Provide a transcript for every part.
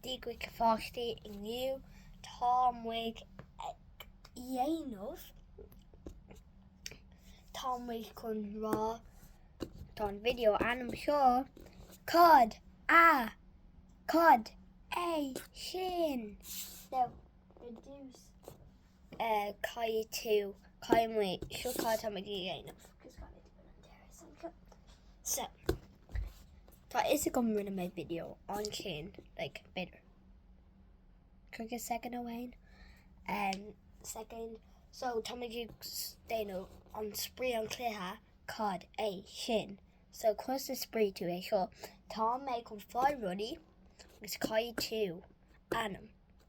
Dia dhaoibh a pháistí inniu Tá muid ag dhéanamh Tá muid chun rá Tá'n video ainm seo Cad a Cad é sin? Now, reduce. caithfidh tú, caithfidh muid, seo cad a tá muid ag déanamh. So, tá a fhios agam rinne mé video ansin, like, b'fhéidir cúigear soicind ó shin, um, soicind. So, tá muid ag s- déanamh an spraoi an cluiche, cad é sin. So, conas a spraoi tú é seo? Tá mé chun fáil rudaí agus caithfidh tú ainm.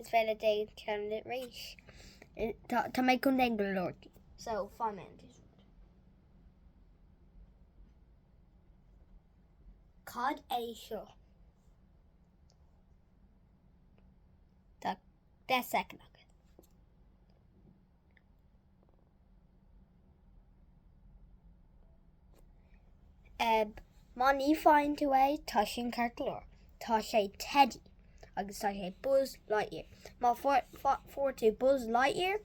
Is féidir leat ceann eile. Tá mé chun déan go leor. So fan man. Cad é seo. Tá de second. Má ní faigheann tú é, tá sin ceart go leor. Tá sé Teddy agus tá sé Buzz Lightyear. Má fuair tú Buzz Lightyear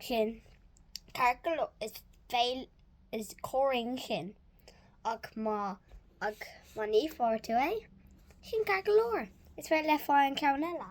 sin ceart go leor is féidir is cuma faoi sin ach má ach má ní fuair tú é sin ceart go leor. Is féidir leat fáil ceann eile.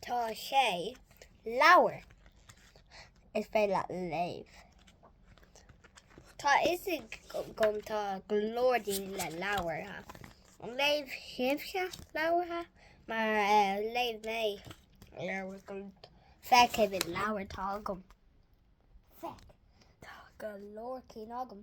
Tá sé leabhar is féidir leat léamh. Tá a fhios agam tá go leor daoine le leabhartha. Léigh sibhse leabhartha? Mar léigh mé Feic ar an leabhar atá agam. Feic, tá go leor cinn agam.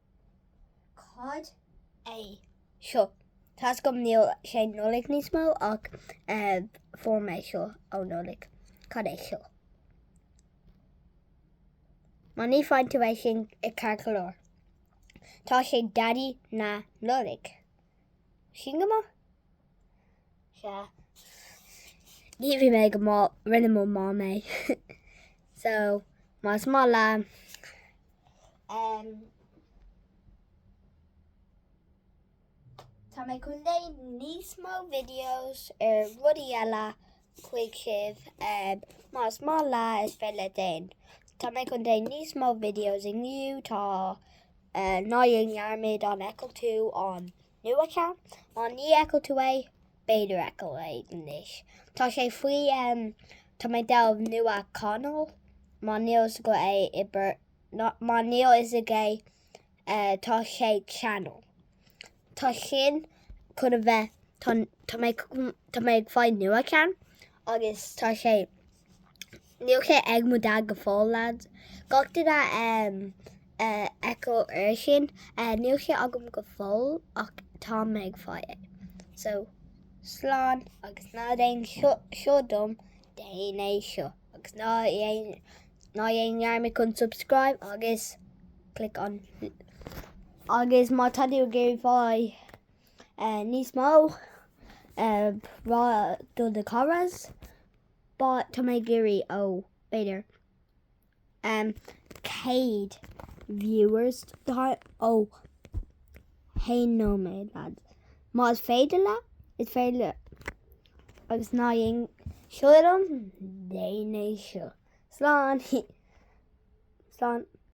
Cad é seo? Tá's agam níl sé Nollaig níos mó ach fuair mé seo ó Nollaig. Cad é seo? Má ní faigheann tú é sin ceart go leor. Tá sé Daidí na Nollaig. Sin go maith? Sea. Ní bhí mé go maith, rinne mo mom é. So, más maith leat Tá mé chun déanamh níos mó videos ar rudaí eile chuig sibh, más maith leat is féidir leat déan. Tá mé chun déanamh níos mó videos inniu, tá ná déan dearmad an fheiceann tú an nua ceann? Má ní fheic tú é, b'fhéidir fheiceáil é anois. Tá sé faoi um, tá mé ag déanamh nua channel, má níl a fhios agaibh, má níl a fhios ag uh, tá sé channel. Tá sin chun a bheith, tá mé ag fáil nua ceann agus tá sé Níl sé agam go fóill, lads. Gach duine a fheiceáil air sin. Níl sé agam go fóill ach táim ag fáil é. So, slán agus ná déan seo dom, déan é seo. Agus ná dhéan dhearmad chun subscribe agus click an Agus má tá tú ag iarraidh fáil níos mó, rá do do charas. But, tá mé ag iarraidh ó, b'fhéidir, em, céad viewers, tá, ó, haon nóiméad, lads. Má is féidir le, is féidir le, agus ná dhéan, seo dom, déan é seo. Slán, slán.